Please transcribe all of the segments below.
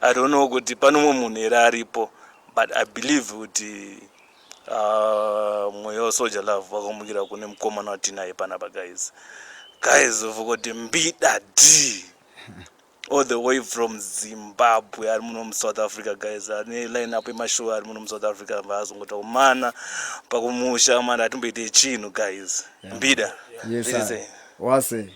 i don't know kuti pane umwe munhu here aripo but i believe kuti uh, mweya wesoja love wakamukira kune mukomana watinaye panapa guys guys vokoti mbida d all the way from zimbabwe ari muno musouth africa guys ane line up yemashow ari muno musouth africa vaazongota kumana pakumusha mani atimboite chinhu guys mbida yeah. yes, wase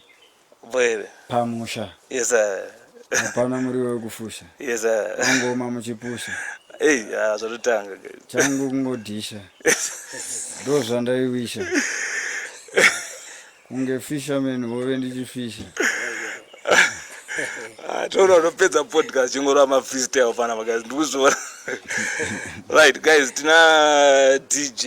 Bwere. Pamusha. Yes sir. Hapana muriwo wekufusha. Yes sir. Angoma muchipusha. Hey, ah, zvatotanga. Changu kungodhisha. Ndo zvandaiwisha. Kunge fisherman wove ndichifisha. Ah, toona unopedza podcast chingorova mafreestyle fana guys ndikuzviona right guys tina dj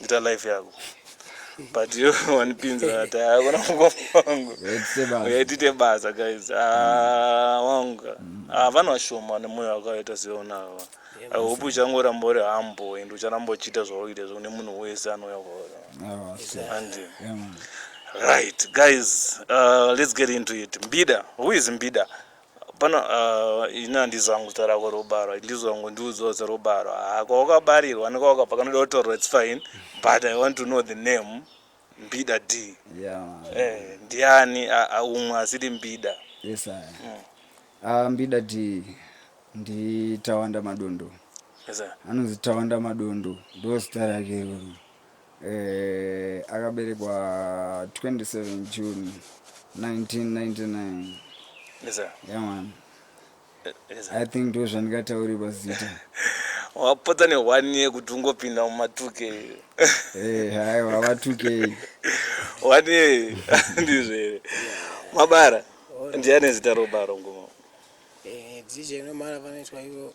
ita life yako but yo wanipinza ati hakuna mukoma wangu yaitite basa guys ah, wangu ah, vanhu vashoma nemoyo wakaita seonava i hope uchangoramba uri humble and ucharamba uchiita zvauita zvekune munhu wese anouya kwaona handi right guys uh, let's get into it mbida who is mbida Hapana uh, ini handizo hangu zita rako robarwa ndizo hangu ndiudzwa zita robarwa haa kwawakabarirwa nekwawakabva kanoda kutaurwa its fine but i want to know the name mbida d yeah. eh, ndiani umwe asiri mbida yes, mm. uh, mbida d nditawanda madondo yes, anonzi tawanda madondo ndozita rake iroro Eh, akaberekwa 27 June 1999. Yes, sir. Yeah man. Eh, Yes, sir. I think ndo zvandikataurirwa zita. Wapotsa ne one year kuti ungopinda muma 2K. Eh, haiwa vatukei. One year ndizvo here. Mabara. Ndiani zita robaro ngoma? Eh, dzija inomara panoitwa ivo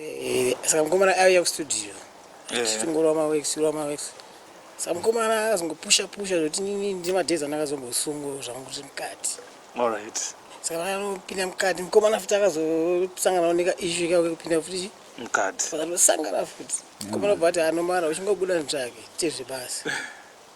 Eh, saka mukomana auya kustudio tichingorova mawex tirova mawex saka mukomana akazongopusha pusha zvekuti nini ndimadhezi andakazombosungo zvangu kuti mukati alright saka vanopinda mukati mukomana futi akazosangana oneka ishu ikauke kupinda futi mukati vakatosangana futi mukomana bva ati anomara uchingobuda nzvake tezve basi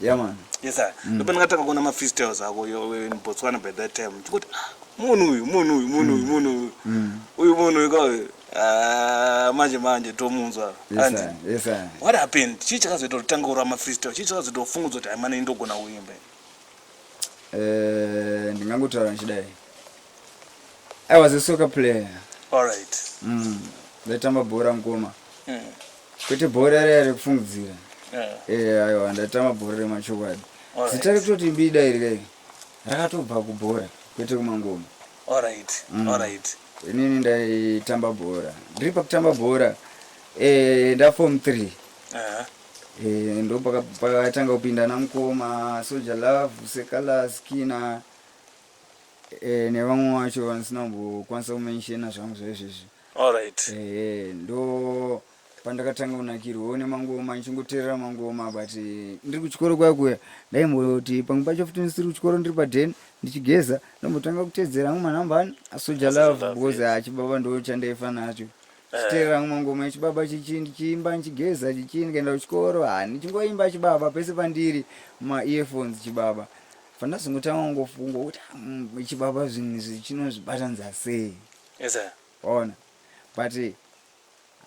Yeah man. Yes sir. Mm. Ndipo ndakatanga kuona ma freestyles ako in Botswana by that time. Ndikuti ah, munhu uyu, munhu uyu, munhu uyu, mm. munhu uyu. Mm. Uyu munhu uyu kwa ah, manje manje tomunzwa. Yes sir. Yes sir. What happened? Chii chakazoita kuti tange ura ma freestyle? Chii chakazoita ufungudzo kuti amana indogona kuimba? Eh, ndingangotaura ndichidai. I was a soccer player. All right. Mm. Ndaitamba bhora mukoma. Mm. Kwete bhora riya rekufungidzira. Eh aiwa ndatama bhora remachokwadi. Zita rekutoti mbida iri kai rakatobva kubhora kwete kumangoma. Alright. Mm. Alright. Inini ndaitamba bhora. Ndiri pakutamba bhora eh nda form 3. Eh. Uh-huh. Eh, ndo pakatanga kupinda namukoma soja love sekala skina e, eh, nevamwe wacho vandisina kumbokwanisa kumenshena zvangu zvaizvezvi Alright. Eh, ndo pandakatanga kunakirwa one mangoma ndichingoteerera mangoma but eh, ndiri kuchikoro kwaya kuya ndaimboti pamwe pacho futi ndisiri kuchikoro ndiri paden ndichigeza ndombotanga kutedzera amwe manhamba ani asoja Asoja love Love, because yes. achibaba ndo chandaifa nacho chiteerera amwe mangoma echibaba chichi ndichiimba ndichigeza chichi ndikaenda kuchikoro ha ndichingoimba chibaba pese pandiri ma earphones chibaba fandazongotanga kungofunga kuti "Ah, mm, chibaba zvinhu izvi chinozvibatanidza sei Yes sir. Waona? But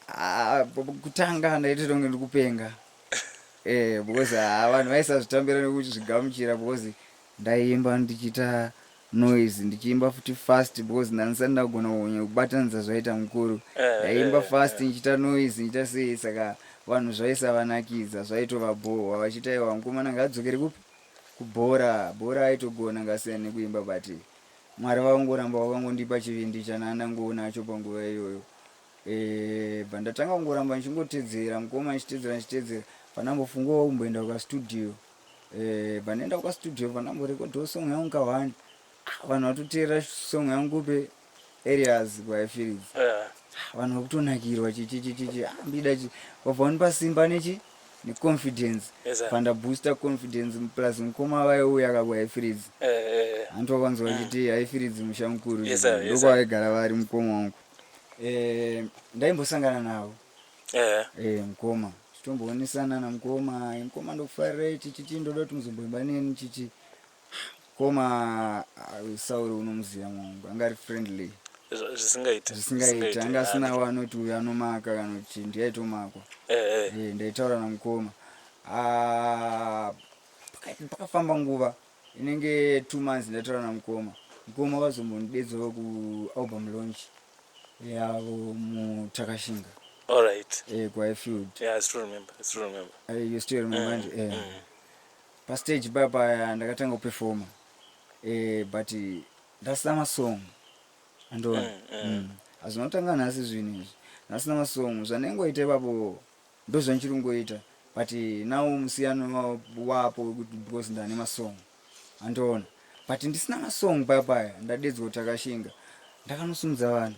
ah, kutanga ndaiti ndonge ndikupenga. Eh, because ah, vanhu vaisazvitambira nekuzvigamuchira because ndaiimba ndichiita noise ndichiimba futi fast because ndanisati ndagona kunye kubatanidza zvaita mukuru eh, ndaiimba eh, fast ndichiita noise ndichiita sei saka vanhu zvaisavanakidza zvaitovabhohwa vachiita iwa mukomana ngaadzokere kupi kubhora bhora aitogona ngasiyana nekuimba but Mwari vakangoramba vakangondipa chivindi chanandangoo nacho panguva iyoyo eh, bva ndatanga kungoramba ndichingotedzera mukoma ndichitedzera ndichitedzera pandambofungawo kumboenda kukastudio eh, bva ndaenda kukastudio pandamborekodhawo song yangu kawani ah, vanhu vatoteerera song yangu pe areas kwaifirizi eh. ah, vanhu vakutonakirwa chichichichichi ambida ah, chi vabva vanipa simba nechi neconfidence yes, pandabooster confidence plus mukoma vaye uya akabwa haifiridzi eh, eh, eh. hanti wakanzwa mm. vachiti mm. haifiridzi musha mukuru yes, yes, ndokwavaigara vari mukoma wangu eh, ndaimbosangana navo eh. eh, mukoma titombowonesana namukoma mukoma ndokufarirai chichichi ndoda kuti muzomboimba neni chichi koma sauri unomuziva mwangu anga ari friendly zvisingaiti zvisingaiti anga asina wanoti uyo anomaka kana kuti ndiyaitomakwa eh, eh. ndaitaura namukoma ah, pakafamba nguva inenge two months ndataura namukoma mukoma vazombonidedzavo kualbum launch yavo mutakashinga alright eh, kwaifield yeah, I still remember. I still remember. Uh, you still remember? Mm, yeah. mm. Pastage paya paya ndakatanga kuperforma eh, but ndasina masong andoona mm, mm. mm. hazvinotanga nhasi zvinhu izvi ndasina masong zvanengoita ipapo ndozvanchiri kungoita but now musiyano wapo wekuti because ndane masong andoona but ndisina masong paya paya ndadedzwa kuti akashinga ndakanosumudza vanhu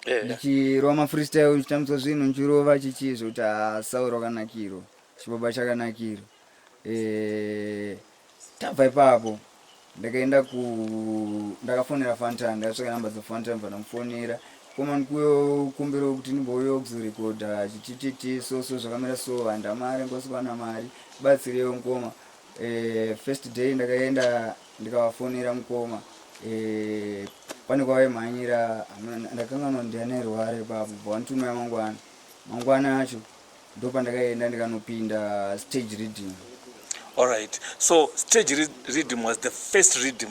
eh. ndichirova mafreestyle ndichitambudzwa zvinhu ndichirova chichii zvekuti hasauro ah, kanakiro chibaba chakanakiro eh, tabva ipapo ndakaenda ku ndakafonera fantan ndakatsvaka namba dzafantan ndibva ndamufonera komani kumbiro kuti ndimbouyo kuzorekodha chitititi so so zvakamira so handa mari ngosikuwana mari batsireyo mukoma eh, first day ndakaenda ndikavafonera mukoma eh, pane kwavaimhanyira ndakanganwa ndianairware papo bva wanitumira mangwana mangwana acho ndopandakaenda ndikanopinda stage reading alright so stage reading was the first reading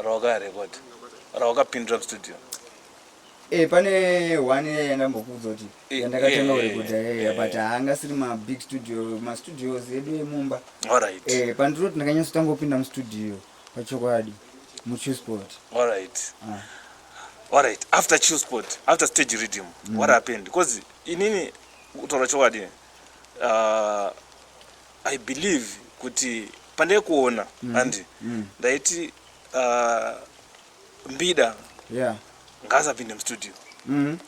rawakarecord rawakapindira mustudio Eh, pane one yaya ndambokuudza kuti eh, yandakatanga kurekodha eh, yaya but haanga siri mabig studio mastudios edu emumba alright eh, pandiroti ndakanyasotanga kupinda mustudio pachokwadi muchusport alright ah. alright after chusport after stage reading mm. what happened because inini kutaura chokwadi uh, i believe kuti pandai kuona mm. andi mm. ndaiti uh, mbida yeah. ngaasapinde mustudio mm.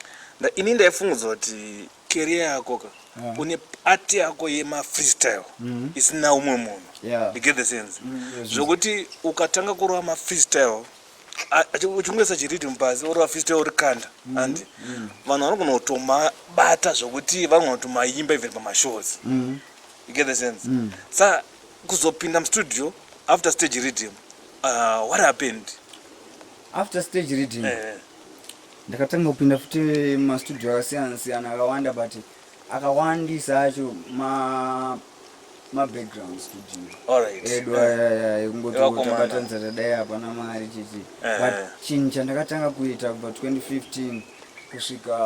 nda, ini ndaifunguza kuti keria yako ka yeah. une ati yako yemafreestyle mm. isina umwe munhu yeah. you get the sense mm. zvokuti ukatanga kurova mafreestyle uchingoisa chiridi mubazi oro vafisite ori kanda mm-hmm. andi mm-hmm. vanhu vanogona kutomabata zvokuti vanogona kutomayimba even pamashows mm-hmm. you get the sense mm. sa kuzopinda mustudio after stage reading uh, what happened after stage reading eh, eh. ndakatanga kupinda futi mastudio akasiyana siyana akawanda but akawandisa acho ma mabackground studio edu aya ekungoti tabatanza tadai hapana mari chichi eh. but chinhu chandakatanga kuita kubva 2015 kusvika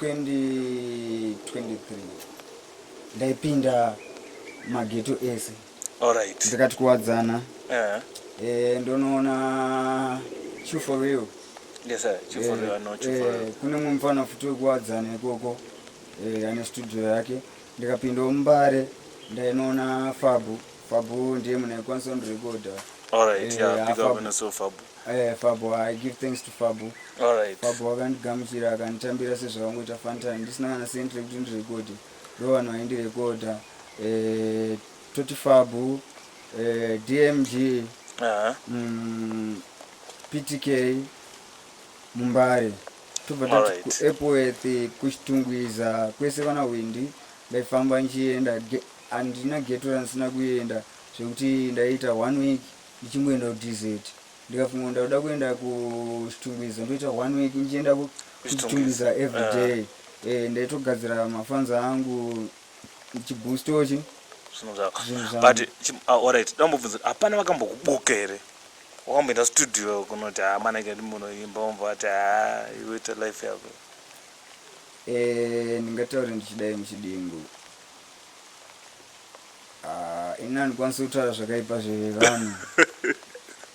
2023 ndaipinda mageto ese Alright. Ndikati kuwadzana. Eh. Eh ndonoona true for real. Yes sir, true for eh, real, no true for eh, real. Eh, kune mumwe mfana futi wekuwadzana ikoko. Eh, ane studio yake. Ndikapinda mumbare ndainoona Fabu. Fabu ndiye mune Constant Recorder. Alright, eh, yeah, big up and so Fabu. Eh, Fabu, I give thanks to Fabu. Alright. Fabu wakandigamuchira akanditambira sezvavangoita Fanta ndisina kana sentry kuti ndirekode. ndovanhu vaindirekodha eh, totifabu eh, dmg Aha. mm, ptk mumbare tobva tati Alright. kuepworth kuchitungwiza kwese vana hwindi ndaifamba ndichienda ge- handina geto randisina kuenda zvekuti ndaiita one week ndichingoenda kudz ndikafunga kuti ndakuda kuenda kuchitungwiza ndoita one week ndichienda kuchitungwiza everyday uh. Ah. e, eh, ndaitogadzira mafanza angu chibustochi zvinhu zvako but uh, alright dambobvunza hapana vakambokubuka here wakamboenda studio kunoti ha ah, manake ndimunoimba womva vati ha ah, iweta life yako e, ndingataure ndichidai muchidimbu Ah, ini handikwanisi kutaura zvakaipa zvevanhu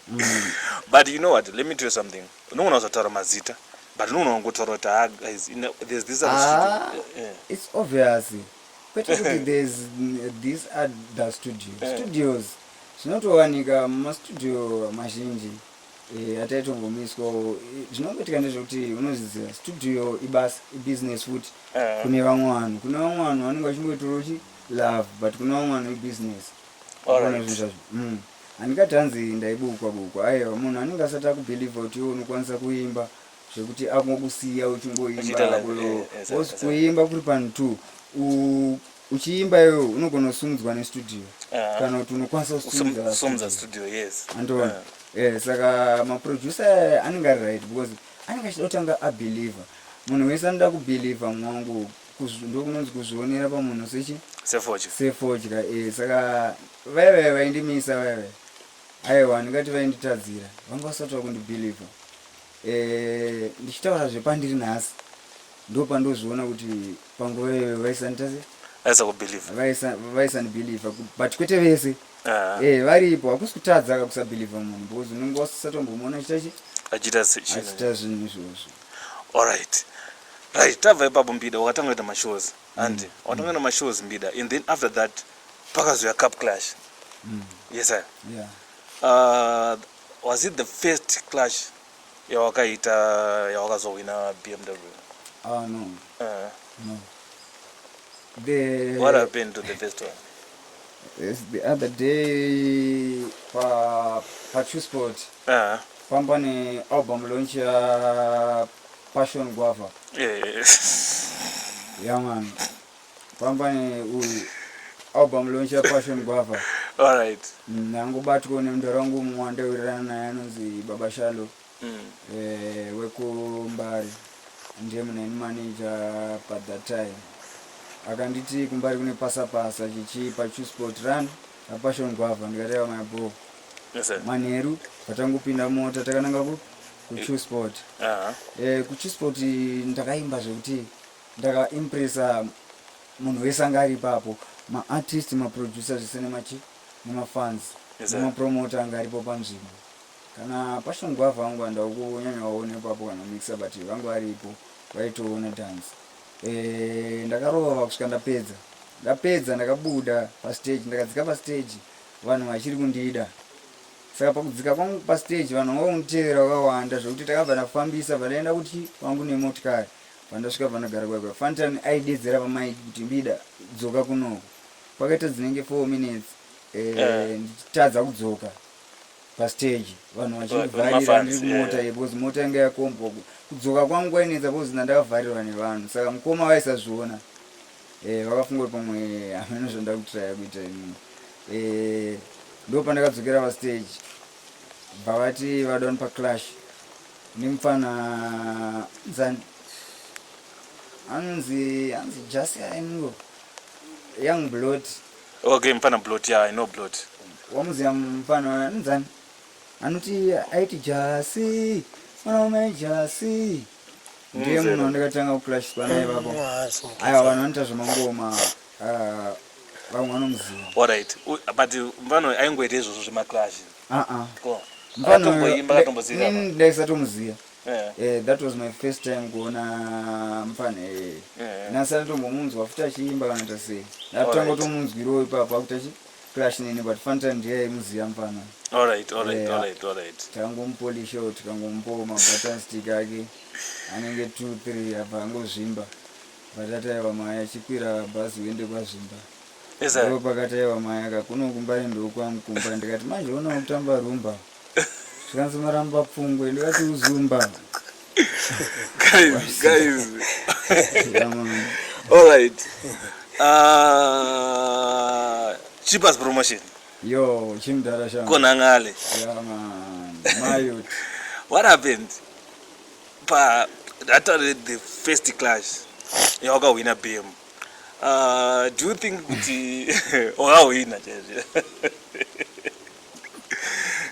Mm. but you know what let me tell you something unogona kuzataura mazita but unogona kungotaura kuti ah guys you know, there's this other Ah, studio." Eh, eh. it's obvious kwete kuti there's mm, this other studio Eh. studios zvinotowanika mumastudio mazhinji Eh, hata itobvumiswawo Eh, zvinongoitika ndezvekuti unozviziva studio ibasa ibusiness futi Eh. kune vamwe vanhu kune vamwe vanhu vanenge vachingoitora uchi love but kune vamwe vanhu ibusiness Alright. Ukaona zvinhu zvazvo Mm. handikati hanzi ndaibukwa bukwa aiwa munhu anenge asati akubhilivha kuti iwe unokwanisa kuimba zvekuti akungokusiya Uchiita uchingoimba like- kulo- eh, eh, course sa- sa- kuimba kuri panhu two u- uchiimba iwewe unogona kusumudzwa nestudio ah. kana kuti unokwanisa kusumudza studio yes andiona ah. eh, saka maproducer aya anenge ari right because anenge achida kutanga abeliever munhu wese anoda kubeliever mwangu ndokunonzi kuzvionera pamunhu sechi sefodya eh, saka vaya vaya vaindimisa vaya vaya aiwa ndingati vainditadzira vanga vasati vakundibeliever eh, ndichitaura zvepandiri nhasi ndopandozviona kuti panguva iyoyo vaisanitase aisakubhilivha vaisanibhilivha but kwete vese ah. eh, varipo hakusi kutadza ka kusabhilivha munhu because unenge wasisatombomuona achitachi achiita zvinhu izvozvo allright right tabva ipapo mbida wakatanga kuita mashows handi mm. wakatanga kuita mashows mbida and then after that pakazoya cup clash mm. yes sir yeah. uh, was it the first clash yawakaita yawakazohwina bmw ah no uh. no the what happened to the first one Yes, the other day pa pa Chusport uh ah. -huh. pamba ne album launch ya Passion Guava yes. yeah man Pambane uyu album launch ya Passion Guava. Alright. Mm, Nangobatwa nemdara wangu mumwe wandawirirana naye anonzi Baba Shalo mm. eh, wekuMbare ndiye muneni manager pa that time akanditi kumbari kune pasapasa chichi pachusport run apassion gwavha ndikateva mabho manheru patangopinda mota takananga kuchusport uh -huh. eh, kuchusport ndakaimba zvekuti Ndaka impressa munhu wese anga ari ipapo ma artist ma producer zvese nema chi nema fans nema promoter anga aripo panzvimbo kana passion guava vangu vanda kunyanya vaona ipapo kana mixer but vangu varipo vaitoona dance eh ndakarova kusvika ndapedza ndapedza ndakabuda pa stage ndakadzika pa stage vanhu vachiri kundida saka pakudzika kwangu pa stage vanhu vanga vakunditevera vakawanda zvekuti takabva tafambisa vadaenda kuti vangu nemotikari pandasvika panogara kwaiva fantan aidedzera vamai kuti mbida dzoka kunoko kwakaita dzinenge four minutes eh, eh. ndichitadza kudzoka pastage vanhu vachivharira ndiri kumota ye bcause mota yanga yakombwa kudzoka kwangu kwainetsa bcause ndandakavharirwa nevanhu saka mukoma vaisazviona eh, vakafunga kuti pamwe hameno zvandakutiraya kuita imini ndopandakadzokera pastage Bva vati vadon pa clash nemupfana nzani anonzi anzi jasi aingo young blot okay mupfana blot ya yeah, i know blot wamuziva mupfana nzani anoti aiti jasi mwana wama jasi ndiye munhu wandakatanga kuclash panaye vapo aiwa vanhu vanoita zvemangoma Ah, vamwe vanomuziva. Alright. U- But mfana uyu aingoita izvozvo zvemaclash. Ah ah. Ko. Mfana uyu, Akatomboimba nda- akatomboziva. ini ndaisatomuziva. Eh. Eh, that was my first time kuona mfana eh. Eh. Nasi anotombomunzwa futi achiimba kana ta sei. Alright. Ndatanga kutomunzwirawo ipapo akuti achi clash nini but fun time ndiye aimuziva mfana. Alright, alright, Yeah. alright, alright. Tangomupolishawo tikangomupawo mabuttons stick ake anenge 2 3 abva angozvimba. Patati aiwa maya chikwira bhazi uende kwaZvimba. Ndipo pakati aiwa maya ka kuno kumbare ndokwangu kumba ndikati manje ona kutamba rumba. Zvikanzi maramba pfungwe ndikati uzumba. guys, guys. All right. Uh, cheapest promotion. Yo, chimdara shangu. Konangale. Yeah, man. Mayot. What happened? padata rethe first class yawakahwina bm uh, do you think kuti wakahwina chaizvo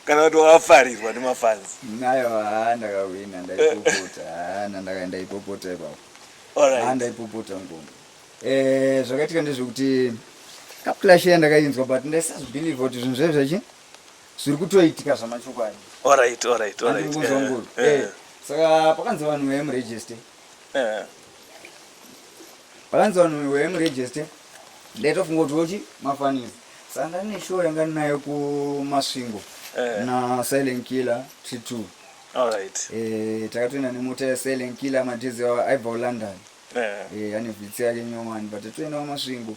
kana kuti wafarirwa nemafanzi nayo haa ndakahwina ndaipopota haana ndakaenda ipopota ipapo haa ndaipopota ngoma eh, zvakaitika ndezvekuti kaplashe yandakainzwa but ndaisazvibhilivha kuti zvinhu zvaizvachi zviri kutoitika zvamachokwadi Alright, alright, alright. Andikuzwa Eh, nguru. eh, Eh, saka pakanzi vanhu vemuregister eh. pakanzi vanhu vemuregister ndaitofunga kuti vochi mafanisi saka ndane show yanga ndinayo kumasvingo Eh. na silent killer tree two Alright. Eh, takatoenda nemota ya silent killer madhizi aibva kulondon Eh, Eh, ane vhitsi yake nyomani but toenda kwamasvingo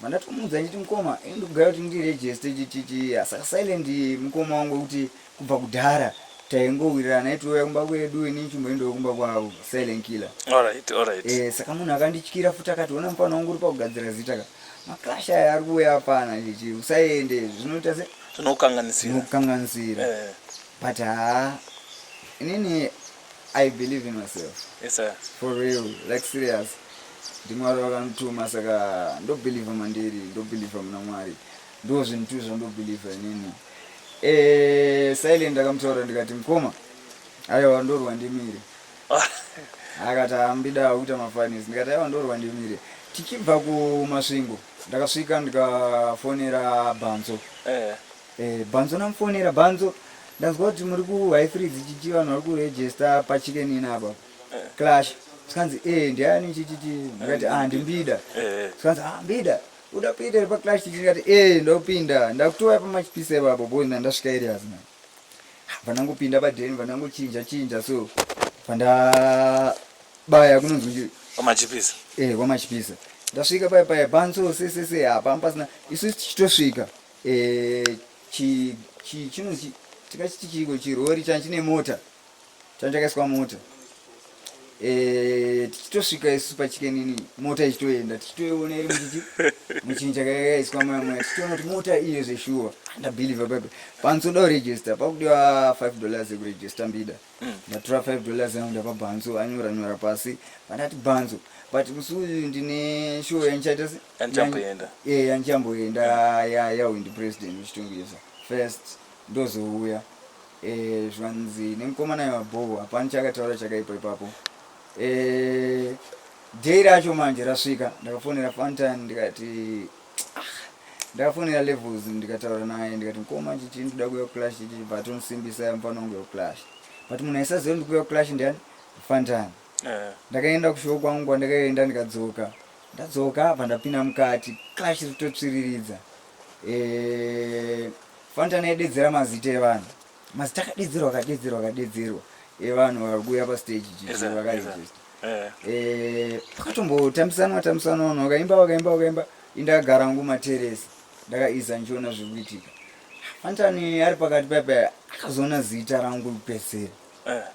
Mandatomuudza nditi mukoma ini ndikugaya kuti ndiregiste chichichi asaka silent mukoma wangu wekuti kubva kudhara taingowirirana aitouya kumba kwedu ini chimboendawo kumba kwavo silent killer alright alright e, saka munhu akandityira futi akati ona mufana wangu uri pakugadzira zita ka maclash aya ari kuuya apana chichi usaende zvinoita se zvinokukanganisira zvinokukanganisira e. but haa inini I believe in myself. Yes sir. For real, like serious. Ndimwari vakanituma saka ndobelieve mandiri, ndobelieve muna Mwari. Ndoo zvinhu tu zvandobelieve inini. Eh, silent akamutaura ndikati mkoma. Aiwa ndorwa ndimire. Akati ambida kuita mafinance. Ndikati aiwa ndorwa ndimire. Tichibva kumasvingo ndakasvika ndikafonera Bhanzo. Eh. Eh, Bhanzo namufonera Bhanzo ndanzwa kuti muri ku high three dzichichi vanhu vari kuregister pachicken in apa eh. clash zvikanzi eh ndiani chichichi ndikati ah ndimbida eh. zvikanzi ah mbida uda kuita iri paclash chichi ndikati eh ndopinda ndakutouya pamachipisa ipapo boy na ndasvika areas na pandangopinda paden pandangochinja chinja so pandabaya kunonzi kwamachipisa eh kwamachipisa ndasvika paya paya bhanzo sesese hapana pasina isu tichitosvika Eh, chi chi chino chi tikachiti chiko chirori chani chine mota chani chakaiswa mota eh, tichitosvika isu pachikenini mota ichitoenda tichitoiona iri muchichi muchinhu chakakaiswa maya maya tichitoona kuti mota iyo zveshuwa ndabhilivha papi panotoda kuregista pakudiwa 5 dollars yekuregista mbida ndatora 5 dollars yangu ndapa bhanzo anyora nyora pasi vandati bhanzo but musi uyu ndine show yandichaita se- Yanichamboenda. yan- eh, yanichamboenda ya- yawindi president uchitongesa first ndozouya Eh, zvanzi nemukomana yevabhoho hapana chakataura chakaipa ipapo Eh, day racho manje rasvika ndakafonera fantani ndikati ndafonera levels ndikataura naye ndikati mkoma chichi ndikuda kuuya kuclash chichi but unosimbisa mfana wangu yekuclash but munhu aisaziva ndikuuya kuclash ndiani fantani eh. ndakaenda kushow kwangu kwandakaenda ndikadzoka ndadzoka apa ndapinda mukati clash ritotsviriridza eh, fantani aidedzera mazita evanhu Must takadedzerwa kadedzerwa kadedzerwa evanhu eh, vari kuuya pastage chichi vakaregister eh. eh, pakatombotambisanwa tambisanwa vanhu vakaimba vakaimba vakaimba indakagara ngu materesi ndakaiza ndichiona zviri kuitika fantani ari pakati paipa akazoona zita rangu kupedzera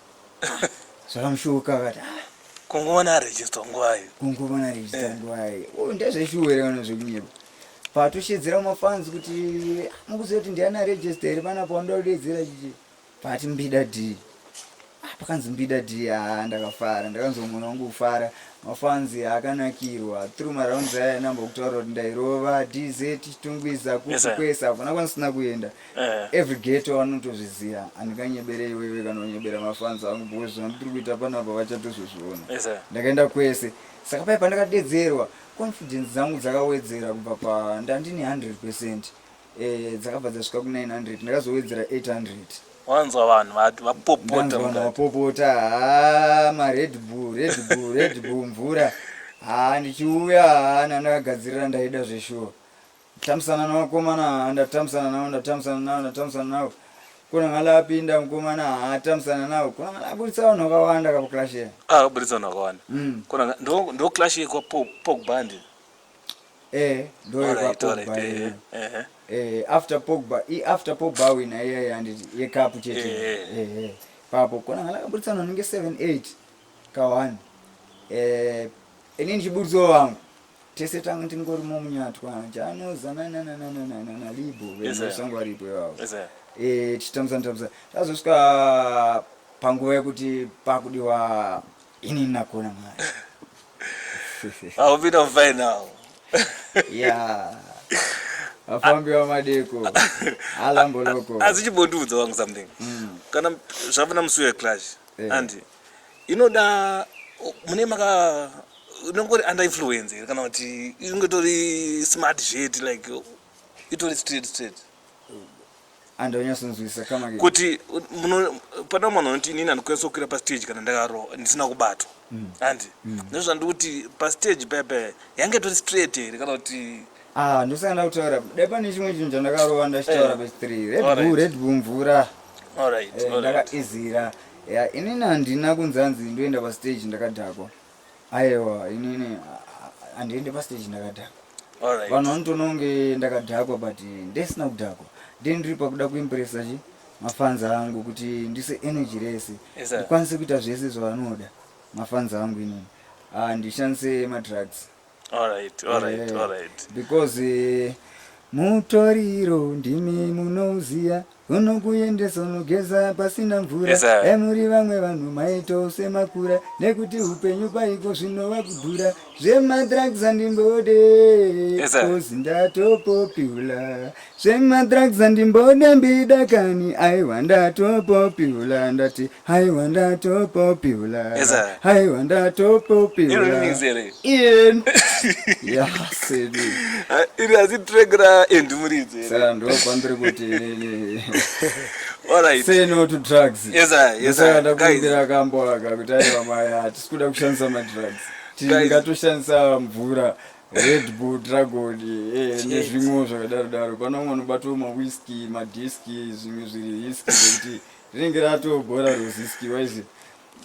zvakamushuka akati ah, kunguvana register ngwai kunguvana register ngwai oh, ndezveshuwere kana zvekunyepa Patushedzera mafans kuti mukuziva kuti ndiani aregister here panapa wanoda kudedzera chichi pati mbida d ah, pakanzi mbida d haa ndakafara ndakanzwa mwana wangu kufara mafans akanakirwa through marounds aya namba kutaura kuti ndairova dz tungwiza kuti kwese hakuna kwanisina kuenda eh. every geto anotozviziva andikanyebere iwewe kana unyebera mafans angu because zvandiri kuita panapa vachatozozviona ndakaenda kwese saka paye pandakadedzerwa Confidence dzangu dzakawedzera kubva pa ndandine 100 percent eh, dzakabva dzasvika ku 900 ndakazowedzera 800 wanzwa vanhu vati vapopota ndanzwa vanhu mukati. vapopota haa mared bull red bull red bull mvura haa ndichiuya haa nandakagadzirira ndaida zveshuwa Tamisana nevakomana haa ndatamisana navo ndatamisana navo ndatamisana navo kuna ngala apinda mukomana haa tamisana navo kuna ngala aburitsa vanhu vakawanda kapo clash ye ah, aburitsa vanhu vakawanda mm. kuna ndo ndo clash yekwa pogba ndi eh ndo yekwa pogba eh, eh, eh. eh after pogba i after pogba wina iya iya ndi yekapu chete eh, eh. eh, eh. papo kuna ngala aburitsa vanhu ninge 7 8 kawani eh ini ndichiburitsawo vangu tese tange tingori momunyatwa chanoza nananananana libo vesango varipo ivavo eh, tichitambisana tambisa tazosvika panguva yekuti pakudiwa ini nakona mari I'll be on fire now. yeah. Afambi wa madeko. Alambo loko. Azichibondiudza wangu something. Mm. Kana zvavana musuya clash. Yeah. Anti. inoda mune maka inongori under influence here kana kuti inonge tori smart zveti like itori straight straight andonyasonzwisisa kama kuti pana mwana unoti inini andikwanisa kukwira pastage kana ndakaro ndisina kubatwa hmm. handi hmm. nezvandikuti pastage pepe yange tori straight here kana kuti Ah, ndosaka ndakutaura dai pane chimwe chinhu chandakarova ndachitaura Eh. past three red Alright. bull red bull mvura All right, Eh, all right. ndakaizira ya inini handina kunzi hanzi ndoenda pastage ndakadhakwa aiwa inini ah, ah, handiende pastage ndakadhakwa All right. vanhu vanotoona kunge ndakadhakwa but ndisina kudhakwa then ndiri pakuda kuimpressa chi mafans angu kuti ndise energy rese Yes, sir. ndikwanise kuita zvese zvavanoda mafans angu inini Ah, ndishandise madrugs Alright, alright, Eh, alright. because eh, mutoriro ndimi munoziya unokuendesa unogeza pasina mvura Yes, sir. e muri vamwe vanhu maito semakura nekuti upenyu kwaiko zvinova kudhura zvemadrugs andimbode Yes, sir. kozi ndatopopula zvemadrugs andimbode mbida kani aiwa ndatopopula ndati haiwa ndatopopula Yes, sir. haiwa ndatopopula Iri remix here? Ian. Yeah, sidi. Ah, iri asi track ra Andy Muridzi here? Saka ndopambiri kuti inini Alright. say no to drugs Yes, sir. Yes, sir. Ndosaka ndakumbira kambo aka kuti aiwa maya hatisi kuda kushandisa madrugs Guys. tingatoshandisa mvura red bull dragon eh, nezvimwewo zvakadaro daro pano vamwe vanobatwa mawhiski madiski zvimwe zviri hiski zvekuti rinenge ratogora ruziskiwa izvi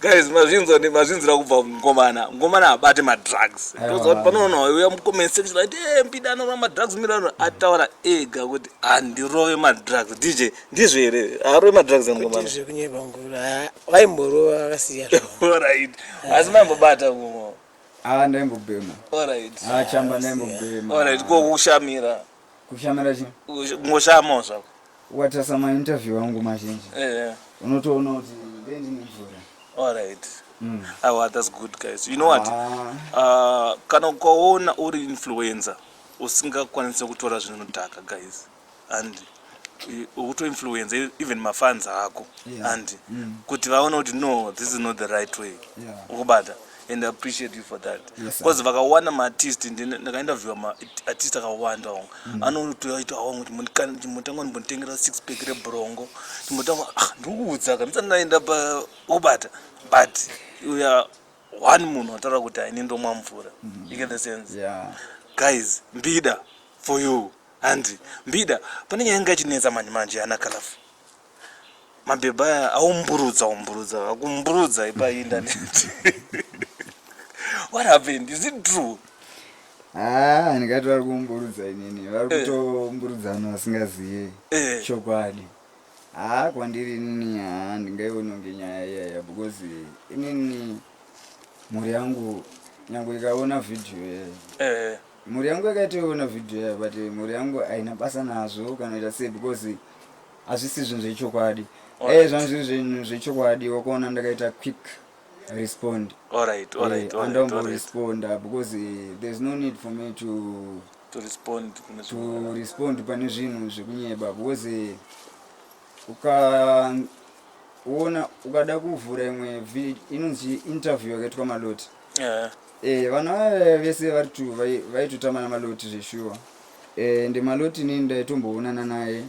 guys mazvinzwa ndi mazvinzira kubva mukomana mukomana abate ma drugs toza kuti panoona wayo uya mucomment section ati eh mpida anova ma drugs milano ataura ega kuti andirove ma drugs dj ndizvo here arove ma drugs mukomana ndizvo kunyeba ngura vaimborova akasiya all right asi mambobata kumo ah ndaimbobhema all right ah chamba ndaimbobhema all right ko kushamira Kushamira chi? Kungoshama zvako. Watasa ma interview angu mazhinji. Eh. Yeah. Unotoona kuti ndendi nemvura. All right. Mm. Oh, ah, that's good guys. You know what? Ah. Uh, kana ukaona uri influencer usingakwanise kutora zvinodhaka guys and ukutoinfluenza e, even mafans ako yeah. and mm. kuti vaone kuti no this is not the right way yeah. ukubata and I appreciate you for that because vakawana maartist ndakainterviewa maartist akawanda onga mm. anotoita wangu kuti motanga ndimbonditengera six pack rebrongo ndimotanga ah, ndikuudzaka ndisati ndaenda pakubata but uya one munhu ataura kuti aini ndomwa mvura mm. you get the sense guys mbida for you handi mbida pane nyaya inga ichinetsa manje manje ana kalafu mabhebha aya aumburudza umburudza akumburudza ipa indaneti what happened is it true haa ah, ndikati vari kumburudza inini vari eh. kutomburudza vanhu vasingazive eh. chokwadi haa ah, kwandiri inini haa ah, ndingaiononge nyaya iyaya because inini mhuri yangu nyange ikaona vhidhiyo yayo eh. mhuri yangu yakaitoiona vhidhiyo yayo but mhuri yangu haina basa nazvo kana ita sei because hazvisi zvinhu zvechokwadi e zvanhu zviri zvinhu zvechokwadi wakuona ndakaita quick respond andomboresponda eh, because eh, there's no need for me to to respond to respond pane zvinhu zvekunyeba because eh, ukaona ukada kuvhura imwe inonzi interview yakaitwa maloti yeah. eh, vana vaya vese vari to vaitotama namaloti zveshuwa eh, ndemaloti nini ndaitomboonana naye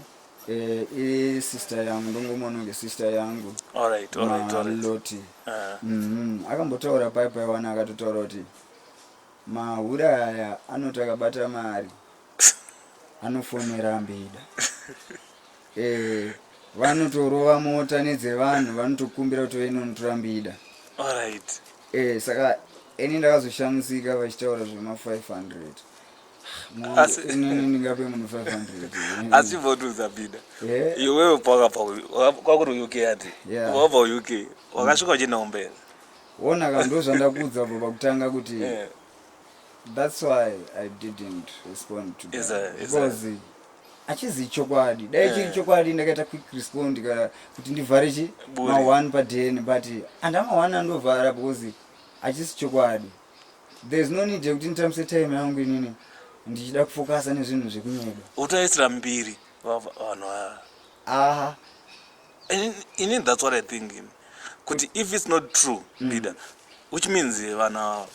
Eh, i sister yangu ndongomuona kunge sister yangu All right, all right, all right. maloti Ah, Mhm. akambotaura pai paiwana akatotaura kuti mahure aya anoti akabata mari anofonera mbida Eh, vanotorova mota nedzevanhu vanotokumbira kuti vainonotora mbida all right. Eh, saka ini ndakazoshamisika vachitaura zvema 500 asi votunza bida iwewe kwakuri uk ati wabva uk wakasvika uchienda kumberi wona ka ndozvandakuudza bva pakutanga kuti that's why i didn't respond to because achizi chokwadi dai chiri eh. chokwadi ndakaita quick respond ka kuti ndivhare chi ma1 padn but andama1 andovhara because achisi chokwadi There's no need yekuti nditambise time yangu inini ndichida kufokasa nezvinhu zvekunyedo. Utaisira mbiri vanhu ava. Aha. Ini that's what I think in. Kuti if it's not true mm. leader which means eh, vanhu ava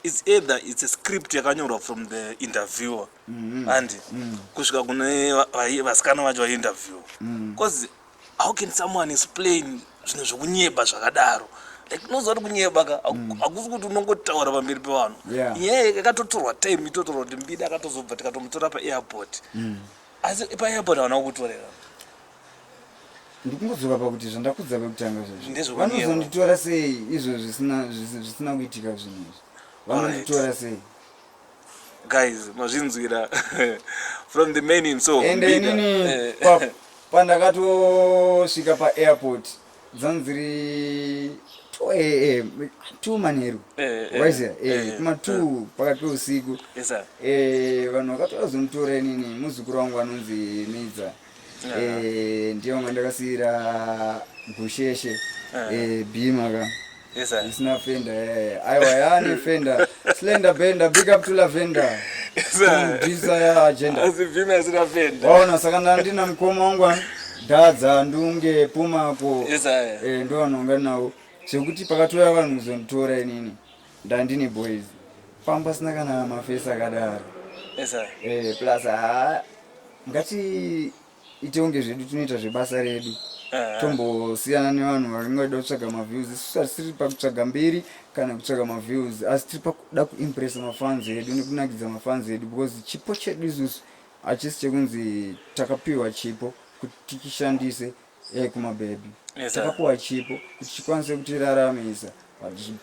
it's either it's a script yakanyorwa from the interviewer mm -hmm. and mm. kusvika kune vasikana vacho vainterview mm. cause how can someone explain zvinhu zvekunyeba zvakadaro like unoziva kuti kunyeba ka mm. hakusi kuti unongotaura pamberi pevanhu inyaya yakatotorwa time itotorwa kuti mbida akatozobva tikatomutora paairport mm. asi paairport havana kukutorera ndikungozora pakuti zvandakudza pakutanga zvozvo vanozonditora sei izvo zvisina kuitika zvinhu izvi vanonditora sei guys mazvinzwira from the main in so and inini eh. pa, pandakatosvika paairport dzanziri 2am 2 manheru waiziva kuma 2 pakati peusiku vanhu vakatouya zomutaura inini muzukuru wangu anonzi midza Eh, ndiyo nga ndakasiira gusheshe eh. Eh, bhima ka isina fenda aiwa yaane fenda slender bender big up to lavender waona saka ndandina mukoma wangu dhadza ndunge pumako ndo vanonga nawo zvekuti pakatouya vanhu kuzonditora inini Ndandine boys pamba pasina kana mafesi akadaro eh, plus haa ngati itonge zvedu tinoita zvebasa redu eh. tombosiyana nevanhu varingoda kutsvaga maviews isu hatisiri pakutsvaga mberi kana kutsvaga maviews asi tiri pakuda kuimpressa mafans edu nekunakidza mafans edu because chipo chedu isusu hachisi chekunzi takapiwa chipo kuti tichishandise Hey, kuma baby yes, takapuwa chipo kuti chikwanise kutiraramisa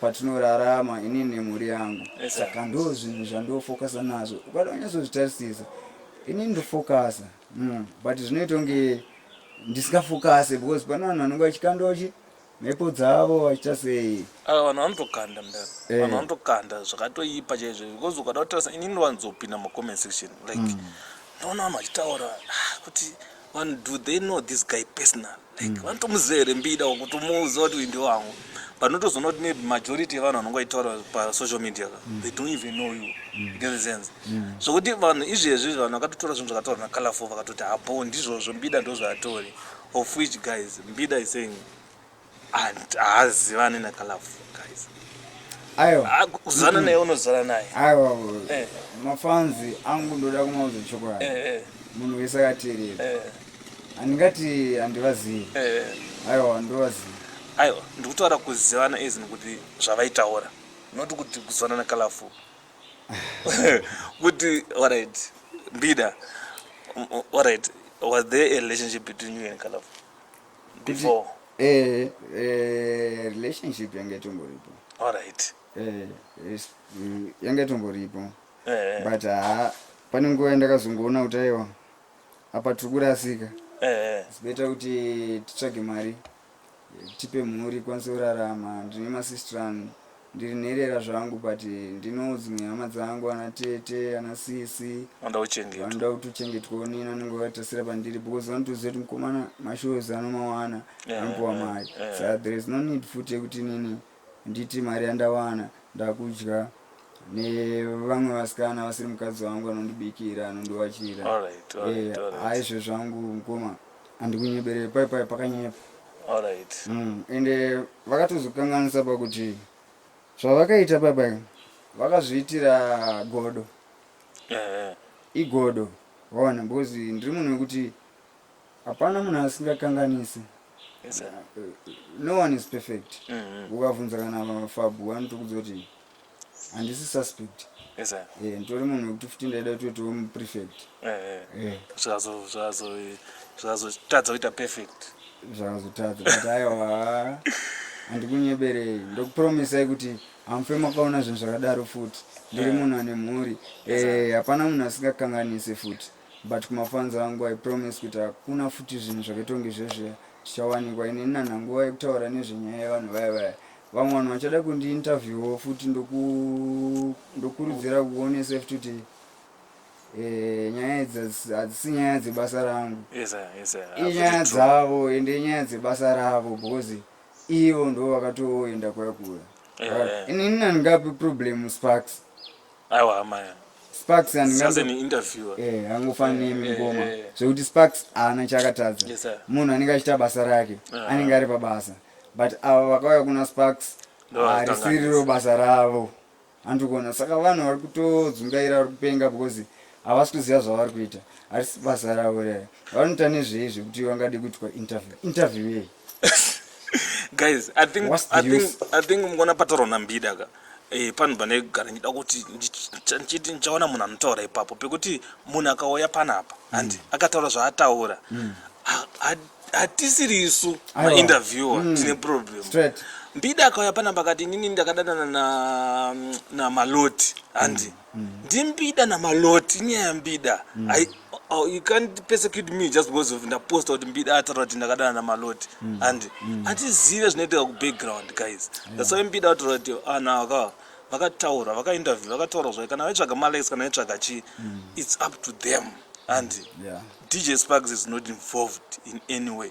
patinorarama ini nemhuri yangu yes, saka ndo zvinhu zvandofocusa nazvo ukada unyatsozvitarisisa ini ndofocasa mm. but zvinoita kunge ndisingafocase because pane vanhu vanenge vachikandochi Mhepo dzavo vaita sei? Ah, vanhu vanotokanda mdara. Eh. Vanhu vanotokanda zvakatoipa chaizvo because ukada kutarisa ini ndinowanzopinda mucomment section like mm. ndoona vanhu vachitaura ah, kuti vanhu do they know this guy personal like mm. vanotomuziva here mbida wakutomuuza kuti uyu ndi wangu but notozoona kuti maybe majority yevanhu vanonge vachitaura pasocial media ka mm. they don't even know you mm. get the sense mm. zvokuti vanhu izvezvi vanhu vakatotora zvinhu zvakataura nacolorful vakatoti hapo ndizvozvo mbida ndozvaatori of which guys mbida is saying and haazivane nakalafu guys aiwa Ah, kuzana naye unozana naye aiwa Eh. mafanzi angu ndoda kumauza chokwadi Eh, eh, munhu wese akateerera eh, handingati handivazivi eh. aiwa ndovazivi aiwa ndikutaura kuzivana as nekuti zvavaitaura not kuti kuzivana nakalafu kuti alright mbida alright was there a relationship between you and Kalafu before eh, eh, relationship yanga itongoripo alright eh, mm, yanga itongoripo eh. but ha pane nguva yandakazongoona kuti aiwa apa tiri kurasika eh. sibeta kuti titsvage mari tipe mhuri ikwanise kurarama ndine masistran ndiri nherera zvangu but ndino dzimwe hama dzangu ana tete ana sisi vanoda kuchengetwa vanoda kuti uchengetwawo nini anenge vatasira pandiri because vanotoziva kuti mukomana mashows anomawana Yeah, anopuwa yeah, mari yeah. sa there is no need futi yekuti nini Handiti mari yandawana ndakudya nevamwe vasikana vasiri mukadzi wangu anondibikira anondiwachira aizve zvangu mukoma andikunyeberei pai pai pakanyepa mm, ende vakatozokanganisa pakuti zvavakaita pai pai vakazviitira godo igodo waona because ndiri munhu wekuti Hapana munhu asingakanganise. Yes, sir. Uh, no one is perfect. Mhm. Ukavhunza kana mafabu vanotokudza kuti handisi suspect. Yes, sir. Eh, nditori munhu wekuti futi ndaida kuti utiwo muprefect. Eh, eh. Eh, Zvazo- zvazo- zvazotadza kuita perfect zvakazotadza kuti aiwa handikunyeberei ndokupromisai kuti hamufe makaona zvinhu zvakadaro futi ndiri munhu ane mhuri Eh, hapana munhu asingakanganise futi but kumafans angu i promise kuti hakuna futi zvinhu zvakaitwange zvezviya zvichawanikwa ini nana nguva yekutaura nezvenyaya yevanhu vaya vaya vamwe vanhu vachada kundiinterviewo futi ndokurudzira kuonesa futi kuti Eh, nyaya idzi hadzisi nyaya dzebasa rangu inyaya dzavo ende inyaya dzebasa ravo because ivo ndo vakatoenda kuya kuya eh, eh. inini nandingapi problem sparks aiwa hama sparks angofanira mingoma zvekuti sparks haana chaakatadza munhu anenge achiita basa rake ah. anenge ari pabasa but ava vakauya kuna sparks harisiriro basa ravo handikuona saka vanhu vari kutodzungaira vari kupenga because havasi kuziva zvavari kuita harisi basa ravo rere vanoita nezvei zvekuti vangadi kuitwa interview interview yei guys i think i think i think mukona patoro na mbida ka eh pano bane gara ndida kuti ndichiti ndichaona munhu anotaura ipapo pekuti munhu akauya panapa and mm. akataura zvaataura mm. hatisiri isu ma interviewer mm. tine problem mbida akauya panapa kati inini ndakadanana na na maloti handi mm. mm. ndimbida namaloti inyaya yambida mm. I, oh, you can't persecute me just because of ndaposta kuti mbida ataura kuti ndakadana namaloti mm. and mm. atizive zvinoitika kubackground guys yeah. that's why mbida ataura kuti ana ah, aka vakataura vakainterview vakataura zvayo kana vaitsvaga malikes kana vaitsvaga chii mm. it's up to them and yeah. dj sparks is not involved in any way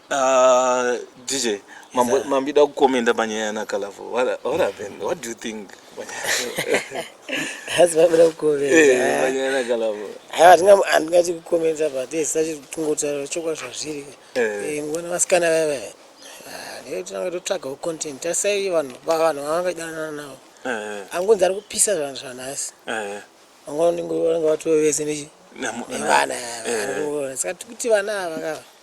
Uh, DJ, mambo, Exactly. mambida kukomenda panyaya yanakalavo what, what happened what do you think Asi vabira kukomenta. Eh, panyaya yanakalavo Haya hatina handingati kukomenta but yes sachi kungotaura chokwadi zvazviri. Eh. Eh ngona vasikana vaya vaya. Ah, ndiye tinanga totsvagawo content. Tasai vanhu ba vanhu vangadanana navo. Eh, Angonzi ari kupisa zvanhu zvanhasi. eh, Vangona ndingoona vatowe vese nechi. namu- nevana Eh. ava. Saka tikuti vana ava kava.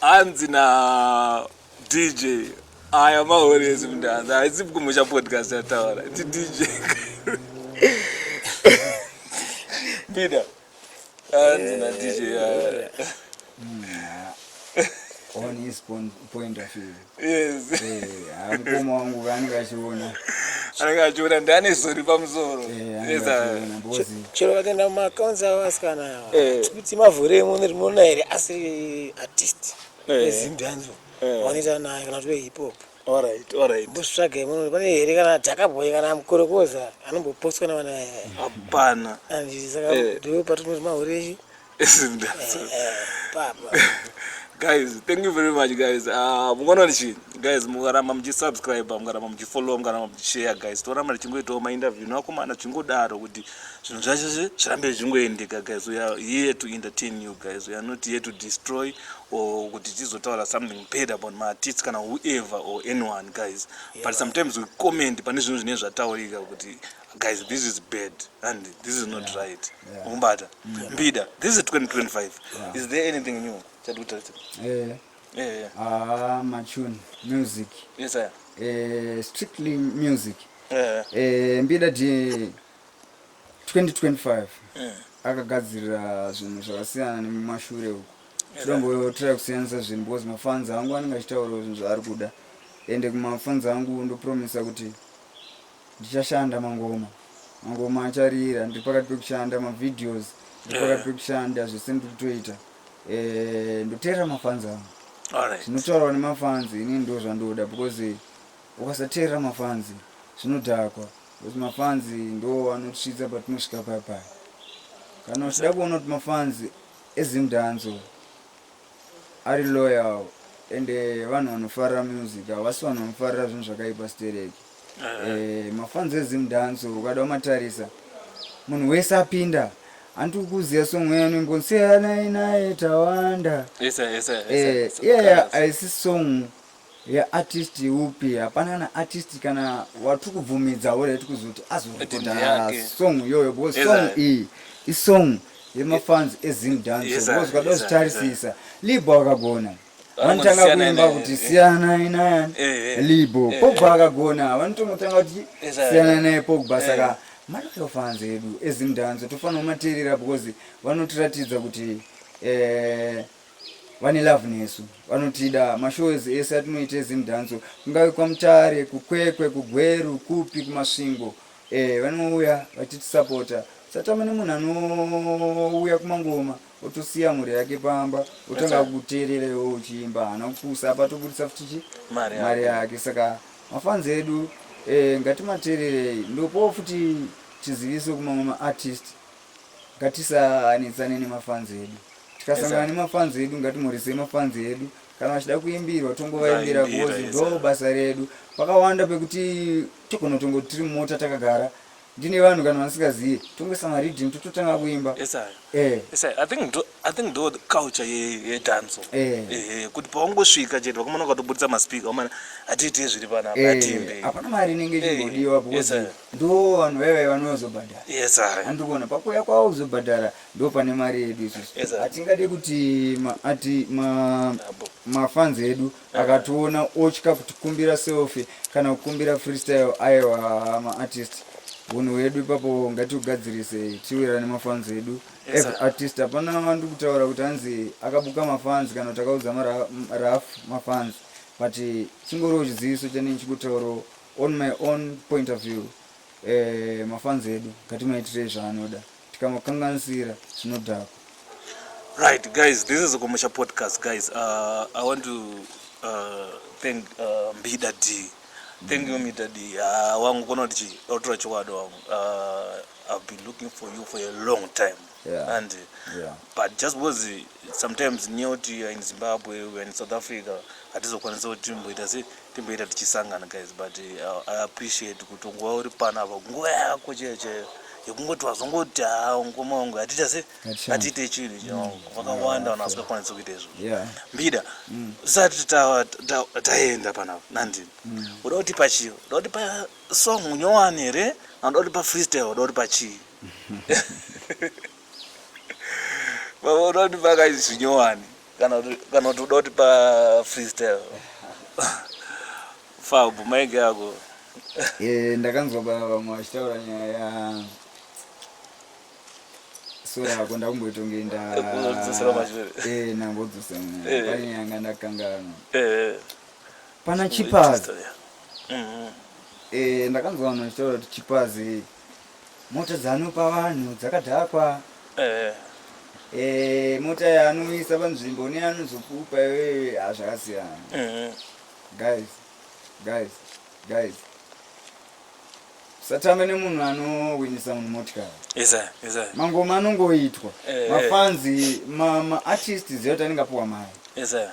hanzi na dj aya mahorezi mndanzi haisi kumusha podcast yataura ti dj pida hanzi na dj aya on his point of view yes eh mukoma wangu vanenge vachiona anenge achiona ndane zori pamusoro eh, chero vakaenda mumaakaunts avo asikana ava eh. kuti mavhure imwe rinoona here asiri artist eh. ezimbianzo vanoita naye kana kuti vehip hop mbosvitsvaga imwe pane here kana dhakaboy kana mukorokoza anombopostwa navana hapana andisaka ndo patinoti mahure guys thank you very much guys ah, mukaona ndichi guys mukaramba muchisubscribe mukaramba muchifollow mukaramba muchishare guys toramba tichingoitawo mainterview nevakomana zvichingodaro kuti zvinhu zvacho zvirambe zvichingoendeka guys we are here to entertain you guys we are not here to destroy or kuti tizotaura something bad about maartist kana whoever or anyone guys but sometimes we comment pane zvinhu zvinenge zvataurika kuti guys this is bad and this is not yeah. right ukumbata yeah. yeah. mbida this is 2025 yeah. is there anything new chatikutarisa eh yeah. yeah, yeah. ah machun music yes sir eh strictly music eh eh mbida di 2025 yeah. akagadzirira zvinhu zvakasiyana nemumashure uku tinombotora kusiyanisa zvinhu because mafans angu anenge achitaurawo zvinhu zvaari kuda ende kumafans angu ndopromisa kuti Ndichashanda mangoma. Mangoma acharira ndiri pakati pekushanda mavideos ndiri pakati pekushanda zvese ndiri kutoita. Eh ndoteerera mafans angu. Alright. Zvinotaurwa nemafans ini ndo zvandoda because ukasateerera mafans zvinodhakwa because mafans ndo anotisvitsa patinosvika paya paya. Kana uchida kuona kuti mafans eZim Danzo Ari loyal ende vanhu vanofarira music havasi vanhu vanofarira zvinhu zvakaipa stereki eh, mafanzi ezim dance ukada umatarisa munhu wese apinda hanti ukuziva song yanu imbonsiyanai naye tawanda iyeya eh, aisi song Ye artist upi hapana kana artist kana watiri kubvumidza ore tiri kuzoti azorekoda song iyoyo because song iyi isong yemafans ezim dance because ukada kuzvitarisisa libho akagona vanotanga kuimba kuti siyana inaya eh, eh. libo eh, pogba akagona vanotongotanga kuti siyana naye pogba saka maloyal fans edu ezimdanzo tofanira kumateerera because vanotiratidza kuti vane love nesu vanotida mashows ese atinoita ezimdhanso kungave kwamutare kukwekwe kugweru kupi kumasvingo eh, vanouya vachitisapota satama nemunhu anouya kumangoma otosiya mhuri yake pamba otanga kuteerera iwo uchiimba haana kupusa apa toburitsa futichi mari yake saka mafanzi edu eh, ngatimateererei ndopo futi tiziviso kumamwe maartist Ngatisanetsane nemafans edu. Tikasangana nemafans edu ngatimurise mafans edu. Kana vachida kuimbirwa tongovaimbira because ndo basa redu. Pakawanda pekuti togona tongo tiri mumota takagara ndine vanhu kana vasingazive tongoisa mariddim tototanga kuimba eh. i think ndo culture yedanso eh. eh, kuti pawangosvika chete vakomana ukatobudisa maspika omana hatiitei zviri panapa hatiimbe hapana mari inenge ichingodiwa because ndoo vanhu vaive vanozobhadhara yes, andikuona pakuuya kwavo kuzobhadhara ndo pane mari yedu isusu yes, hatingade kuti ati mafans ma edu akationa otya kutikumbira selfie kana kukumbira freestyle aiwa maartist hunhu hwedu ipapo ngatiugadzirise tiwirane mafans edu yes, artist hapana vandu kutaura kuti hanzi akabuka mafans kana kuti akaudza maraf mafans but chingoriwo chiziviso chanei chikutaurawo On my own point of view eh, mafanzi edu ngatimaitirei zvaanoda tikamakanganisira zvinodhakwa right guys this is kumusha podcast guys uh, i want to uh, thank uh, mbida d thank you mbida d uh, wangu kona kuti chii autora chokwadi wangu uh, i've been looking for you for a long time Yeah. and Yeah. but just because sometimes nyaya kuti you are in zimbabwe we are in south africa hatizokwanisa kuti timboita se timboita tichisangana guys but uh, i appreciate kuti ungova uri pano apa nguva yako chaiyo chaiyo yekungoti wazongoti haa ngoma wangu hatiita se Hatishandi. hatiite chinhu chawangu vakawanda vanhu vasikakwanisa kuita izvo Yeah. mbida usati ta- ta- taenda panapa nandini uda kuti pachii uda kuti pa song nyowani here anoda kuti pa freestyle oda kuti pachii oda kuti pakaizwi nyowani kana kuti oda kuti pa freestyle fabhu maige ako eh, ndakanzwa vamwe vachitaura nyaya ya sora ako ndakumboitongeenda eh, nambodzosera eh. painyanga ndakanganwa Pana Chipazi. Mm-hmm. Eh, ndakanzwa vanhu vachitaura kuti Chipazi mota dzanopa vanhu dzakadhakwa. Eh. Eh, mota yaanoisa panzvimbo neanozokupa iwewe hazvakasiyana. Ah, mm-hmm. Guys, guys, guys. Satame nemunhu anowinisa munhu motikari. Isa, isa. Mangoma anongoitwa. Eh, eh. Mafanzi, ma, ma artists zero tanenga puwa mari. Isa.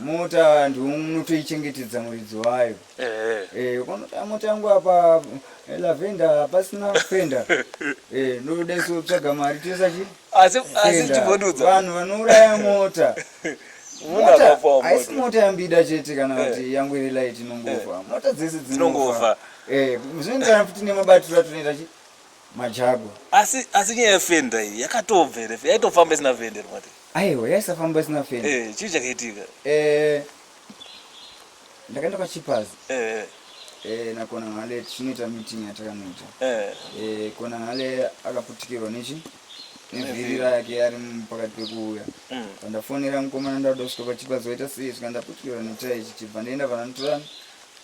mota vantu unotoichengetedza muridzi wayo eh. eh, ukanota mota yangu apa eh, lavenda hapasina fenda ndoda isu tsvaga mari toisa chi vanhu vanouraya mota haisi mota yambida chete kana kuti yangu iri light inongofa mota dzese dzinongofa zvinoenderana futi nemabatiro atinoita chi Majagwa. Asi asi nyaya yefenda iyi yakatobva here? Yaitofamba isina fenda here mati? Aiwa, yaisafamba isina fenda. Eh, chii chakaitika? Eh, ndakaenda kwachipazi. Eh. Eh, nakona ngale tinoita meeting yatakanoita. Eh. Eh, kona ngale akaputikirwa nechi? nevhiri rake ari pakati pekuuya mm. pandafonera mukomana ndauda kusvika pachipazi waita sei svika ndaputikirwa netai chichibva ndaenda pananotorana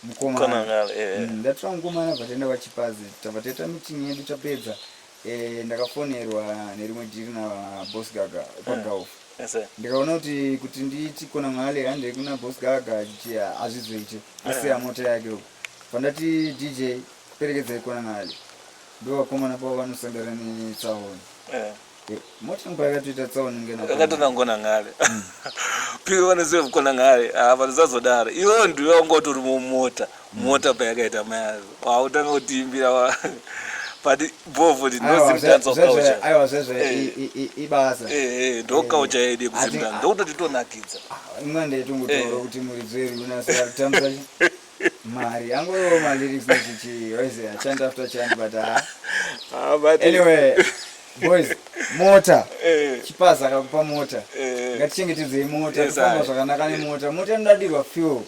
mukomana eh, eh. mm, ndatora mukomana bva taenda kwachipazi tabva taita meeting yedu tapedza eh, ndakafonerwa nerimwe dhiri nabos gaga kwagauf ndikaona kuti kuti nditi kona mali hande kuna bos gaga hazvizoite asiya mota yake uku pandati dj perekedzai kona mali ndovakomana pavo vanosangana netsaona akatonangona ngale mm. piko vanoziva kukona ngale ah, vanozazodaro iwo ndiwe wanga utori mumota mm. mota payakaita mayazo wautanga kutiimbira but bhovho ndinozimdanzokauchaibasa eh. eh, eh, ndokaucha yede kuzimdana ndokutoti tonakidza ah, imwe ndaitongotaura kuti muridzi werunasatamsa Mari yangu yo mali lyrics nechichi yoise a chant after chant but ah. Ah, but anyway boys mota eh. chipaza akakupa mota eh. ngatichengetedzei mota tofamba zvakanaka nemota mota inodadirwa fuel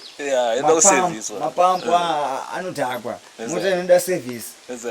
mapampu eh. ah, anodhakwa mota inoda service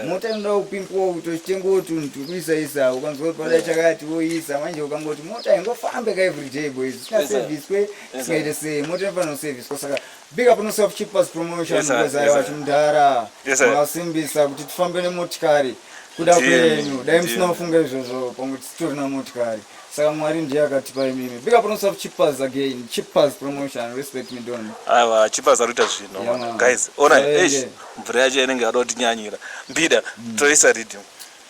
mota inoda kupimpiwa kuti uchitengewo tunhu tukuisaisa ukanzwa kuti pada chakati woisa manje ukangoti mota ingofambe ka everyday boys isina service kwe isingaite sei mota inofanira kuserviswa saka Big up Nusa of Cheapers Promotion Yes, sir. because Yes, I sir. was mdhara Yes, sir. masimbisa kuti tifambe nemotikari kuda Ndiye, kwenyu dai ndiye. musina kufunga izvozvo pamwe titorina motikari saka mwari ndiye akatipa imimi big up Nusa of Cheapers again Cheapers Promotion respect me don aiwa chipas ari kuita zvinhu Yeah, man. guys ona Aende. eish mvura yacho inenge yada kutinyanyira mbida toisa riddim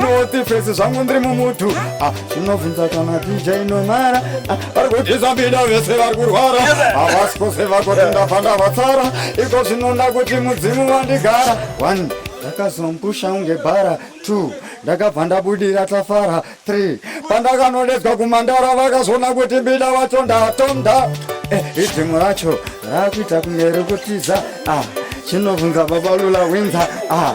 noti fesi zvangu ndiri mumutu ah, zvinobvunza kana dj nomara ah, vari kutiza mbida vese vari kurwara havasi kose vakoti ndafanda vatsara iko zvinoda kuti mudzimu vandigara one ndakazompusha unge bhara two ndakabva ndabudira tafara three pandakanodedzwa kumandara vakazoona kuti mbida vacho ndatonda eh, idzimu racho rakuita kumeri kutiza ah, chinobvunza babalula winza ah,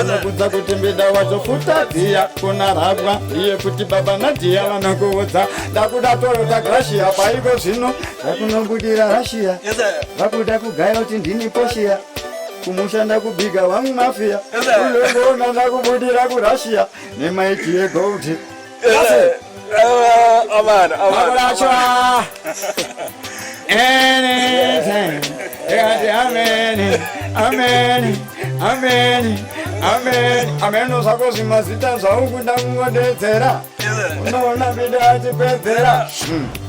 anokudza kuti mbida wacho futa dziya kunarabwa iye kuti baba nadhiya vanokuudza ndakuda toyota grashia paiko zvino ndakunobudira rashiya vakuda kugaya kuti ndini poshiya kumushanda kubiga wangu mafiya ulongoona ndakubudira kurashiya nemaiti yegoldie Amana, amana, amana. Anytime. Amen. Amen. Amen. Amen. Amen. Nosako zvimazita zvaungu ndakungodedzera. Unoona bida achipedzera. Hmm.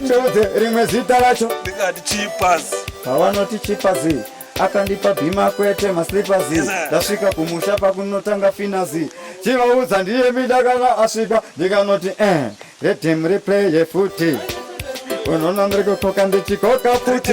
ndiudze rimwe zita racho ndingati chipas pawanoti chipazi akandipa bhima kwete maslipazi ndasvika kumusha pakunotanga finazi chivaudza ndiye mida kana asvika ndikanoti eh redem replay yefuti unonandirikukoka ndichikoka futi